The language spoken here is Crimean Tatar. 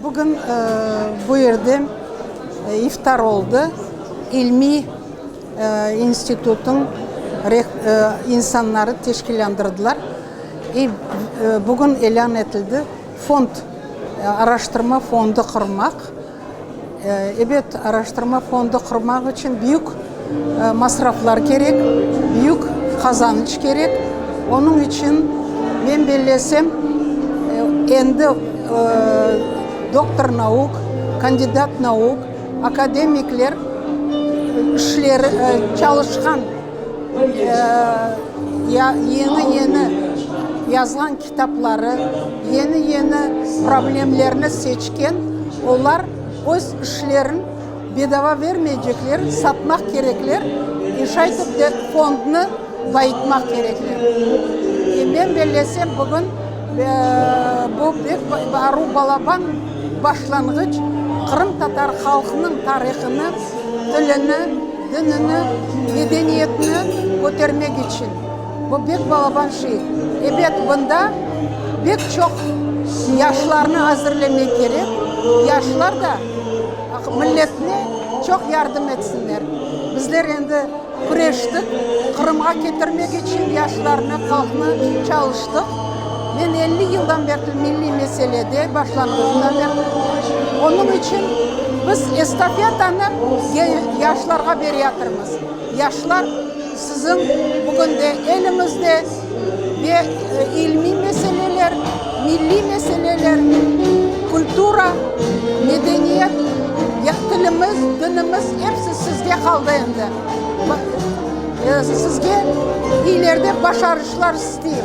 Bugün bu yerde iftar oldı. İlmiy institutnıñ insanları teşkilândırdılar. Bugün ilân etildi, fond, araştırma fondu qurmaq. Ebet, araştırma fondu qurmaq içün büyük masraflar kerek, büyük qazanıç kerek. Onıñ içün, men bellesem, endi doktor nauk, kandidat nauk, akademikler işleri, çalışqan, yañı-yañı yazılan. kitapları, yeni-yeni problemlerni seçken, olar öz işlerin bedava vermeycekler, satmaq kerekler, e şaytip de fondnı bayıtmaq kerekler. E men bellesem, bugün bu bek aru balaban başlanğıç qırımtatar halqnıñ tarihını, tilini, dinini, medeniyetini kötermek içün. Bu bek balaban şey. Ebet, bunda bek çoq yaşlarnı azırlemek kerek, yaşlar da milletne çoq yardım etsinler. Bizler endi küreştik, Qırımğa ketirmek içün yaşlarnı, halqnı çalıştıq. Men elli yıldan berli milliy meselede, başlanğıcından berli. Onıñ içün biz estafetanı yaşlarğa bereyatırmız. Yaşlar. Siziñ bugün de eliñizde ve ilmiy meseleler, milliy meseleler, kultura, medeniyet, tilimiz, dinimiz, episi sizge qaldı endi. Sizge ileride başarıclar isteyim.